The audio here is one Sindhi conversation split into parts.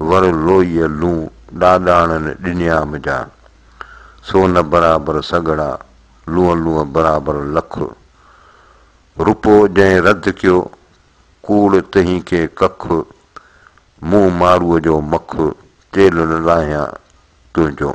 ور لوئيء لون ڏاڏاڻن ڏنيام جا، سون برابر سڳڙا، لونء لونء برابر لک. روپو جنهن رڌ ڪيو، ڪوڙ تنهين کي ڪک، مون ماروء جو مک، تيل نه لاهيان تنهنجو.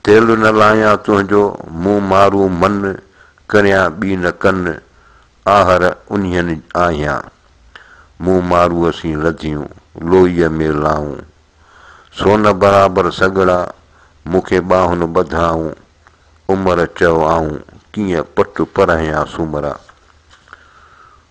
تيل نه لايان تنهنجو، مون مارو من، ڪريان ٻي نه ڪن، آهر انهين آهيان. مون ماروء سين لڌيون، لوئيء ۾ لائون. سون برابر سڳڙا، مون کي ٻانهن ٻڌائون. عمر چئو آئون، ڪيئن پٽ پرهيان سومرا.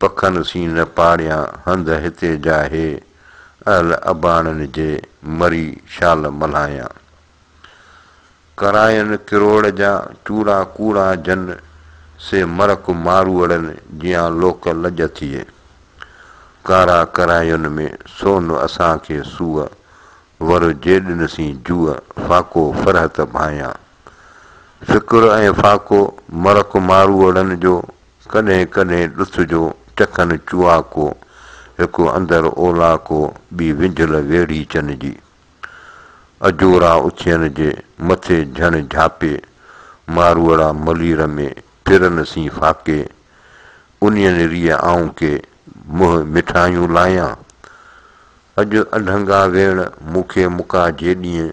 پکن سين نه پاڙيان هنڌ هتي جا هي اهل اباڻن جي مري شال ملهايان ڪراين ڪروڙ جا چوڙا ڪوڙا جن سي مرڪ ماروئڙن جيان لوڪ لڄ ٿئي ڪارا ڪراين ۾ سون اسان کي سوء ور جيڏن سين جوء فاقو فرحت ڀايان فڪر ۽ فاقو مرڪ ماروئڙن جو ڪڏهن ڪڏهن ڏس جو چڪن چوئاڪو، هڪ اندر اولاڪو ٻي وينجهل ويڙهي چن جي. اجورا اٿين جي مٿي جهڻ جهاپي، ماروئڙا ملير ۾ ڦرن سين ڦاڪي، انين ريء آئون ڪي منهن مٺايون لايان؟ اڄ اڍنگا ويڻ مون کي مڪا جيڏينء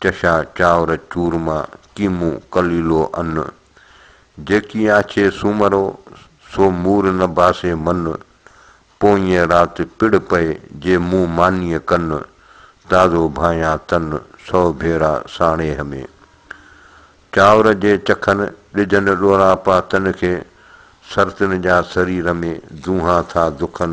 چشا، چانور، چورما، ڪيمو، ڪليلو، ان جيڪي آڇي سومرو، سو مور نه باسي من، پوئينء رات پڙ پئي، جي مون مانيء ڪن، تازو ڀانيان تن، سئو ڀيرا ساڻيهه ۾. چانور جي چکن، ڏجن ڏوراپا تن کي، سرتن جا سري رمي، دونها ٿا دکن،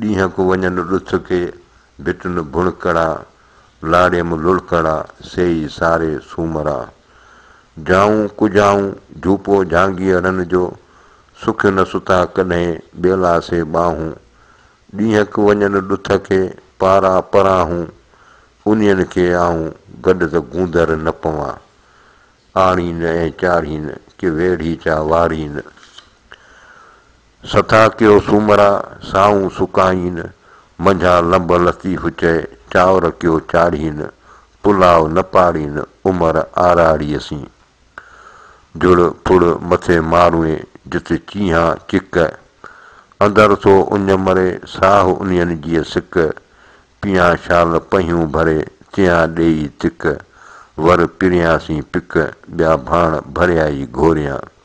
ڏينهن ڪو وڃن ڏٿ کي، ڀٽن ڀڻ ڪڙا، لاڙيم لڙڪڙا، سيئي ساري سومرا. جائون ڪجائون، جهوپو جهانگيئڙن جو، سکيو نه ستا ڪڏهين، ٻيلا سي ٻانهون. ڏينهن ڪو وڃن ڏٿ کي، پارا پراهون، انهين کي آئون، گڏ ته گوندر نه پوان. آڙين ۽ چاڙهين، ڪي ويڙهي چا واڙين. سٿا ڪيو سومرا سائون سڪائين، منجهان لنب لطيف چئي چانور ڪيو چاڙهين، پلاء نه پاڙين عمر آراڙيء سين. جڙ ڦڙ مٿي ماروين جت چينهان چڪ، اندر ٿو اڃ مري ساهه انهين جيء سڪ، پيان شال پهيون ڀري تيان ڏيئي تڪ، ور پريان سين پڪ ٻيا ڀاڻ ڀريائي گهوريان.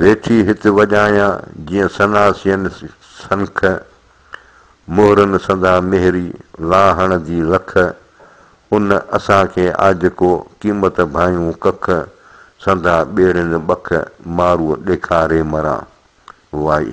ويٺي هت وڄايان جيئن ثنا سين سنک، مهرن سندا مهري لاهڻ جي لک، ان اسان کي آجڪو قيمت ڀايون ڪک، سندا ٻيڙين ٻک مارو ڏيکاري مران. وائي.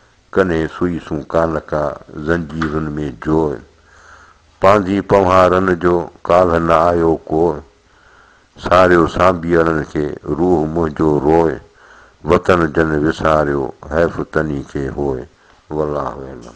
ڪنھين سوئي سون ڪالھه ڪا زنجيرن ۾ جوء پانڌي پنھارن جو ڪالھه نه آيو ڪوء ساريو سانڀيئڙن کي روح منھنجو روء وطن جن وساريو حيف تنھي کي ھوء والله اعلم.